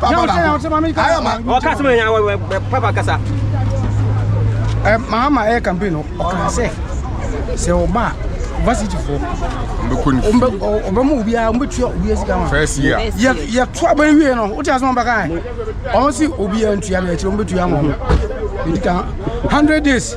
Papa ba ko. Ayo ma. O kasa ma nya papa kasa. Eh mama eh campaign o kan se. Se o ba varsity fo. Mbe ko ni. Mbe o be mu obi a mbe tua obi asika ma. First year. Ye ye to aban wie no. O ti asem ba kan. O si obi a ntua me akire mbe tua mo. Ndi kan 100 days.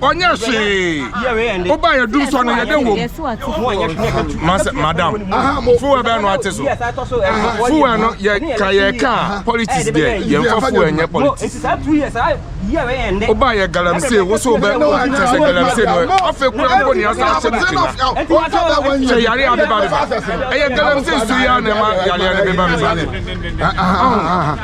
ɔnyɛ hwee woba yɛ dum sɔ no yɛde wom masɛ madam fuwɛ bɛɛ no ate so fuwɛ no yɛka yɛka a politics deɛ yɛmfa fuwɛ nyɛ politics woba yɛ galamsey wo so wobɛ kyɛ sɛ galamsey no afei kura mpo ne asa ahyɛ no kyina sɛ yare a beba beba ɛyɛ galamsey so yi a na ɛma yareɛ no beba beba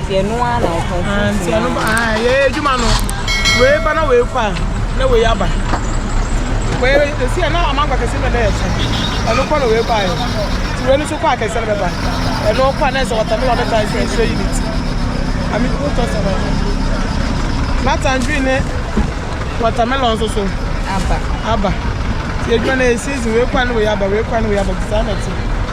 Nti ɛno ara na ɔtɔn fruit. Ah, nti ɛno ba ah yɛ adwuma no. Wei ba na wei kɔ a na wei aba. Wei esi ɛna amango akɛse na ɛyɛ sɛ. Ɛno kɔ na wei kɔ ayɛ. Nti wei no so kɔ akɛse na bɛba. Ɛno kɔ a na ɛsɛ watermelon ne tangerine nso yɛ unit. Ami ko tɔ sɛ bɛyɛ. Na tangerine ne watermelon nso so. Aba. Aba. Nti adwuma na yɛ season wei kɔ a na wei aba wei kɔ a na wei aba. Nti saa na ɛte.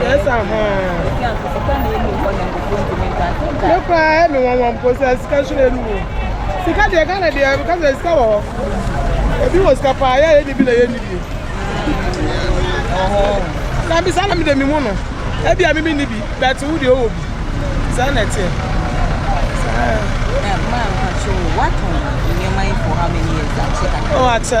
Yes, Me cry, me one one process, cash in anymore. Sika deɛ Ghana deɛ because ɛsɛ sika wɔ hɔ. Ebi wɔ sika paa, yɛ yɛ ni bi na yɛ ni bi. Na bi saa na mi de mi mu no. Ebi a mi mi ni bi, but wo deɛ ɔwɔ bi. Saa na ɛteɛ. Saa. Maa mpakyɛ o, watɔn nneɛma yi for how many years? Akyɛ kakra. Oh, akyɛ.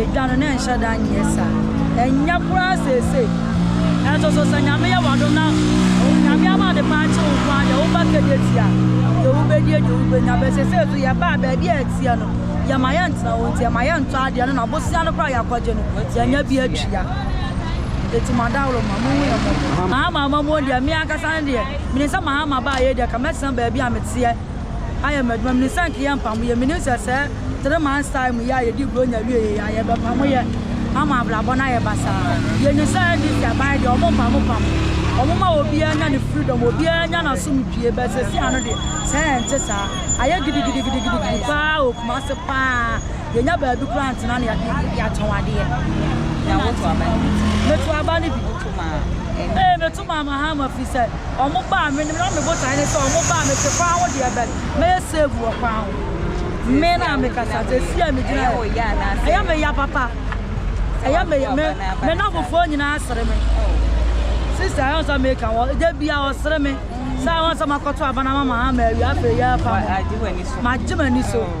Edwa no, na ɛnhyɛ da nyɛ saa. Ɛnyɛ koraa seesei. Nanso so sɛ Nyame yɛ w'adom na Onyame ama ade pa akye wo nko ara deɛ, woba Kedeti a, deɛ wobɛdie, deɛ wobɛnya. But seesei nso yɛbaa baabi a ɛteɛ no, yɛma yɛntena hɔ nti, ɛma yɛntɔ adeɛ no, na bosea no koraa a yɛakɔgye no, yɛanya bi atua. Enti mo adaworoma, monhu yɛn mmɔbɔ. Mahama amammuo deɛ, me ankasa no deɛ, menim sɛ Mahama baa yei deɛ, nka mɛtena baabi a meteɛ. ayɛ m'adwuma. Menim sɛ anka yɛmpamo yɛ. Menim sɛ sɛ three months time yi a yɛdi Buronya wie yɛ a yɛbɛpamo yɛ ama abrabɔ no ayɛ basaa. Yɛnim sɛ NDC aban deɛ wɔn mpamo pamo. Wɔn ma obiara nya ne freedom, obiara nya n'asomdwie but sɛsi ano deɛ sɛ ɛnte saa. Ayɛ gidigidigidigidi paa wɔ Kumasi paa. Yɛnya baabi koraa ntena na yɛatɔn adeɛ. Na woto aba no bi? Meto aba no bi. Woto ma? Ee, meto. Maa Mahama fi sɛ ɔmo baa me no na me botae ne sɛ ɔmo baa me te kwan ho deɛ but mɛyɛ save wɔ kwan ho me na me kasa te si a me gyina yɛ ɛyɛ me ya papa ɛyɛ me ya me me na fofoɔ nyinaa sere me sister ɛyɛ nsa me ka wɔ de bia ɔsere me saa wɔn sɛ makɔto abana ma Mahama awia afei yɛ afa ma gye m'ani so.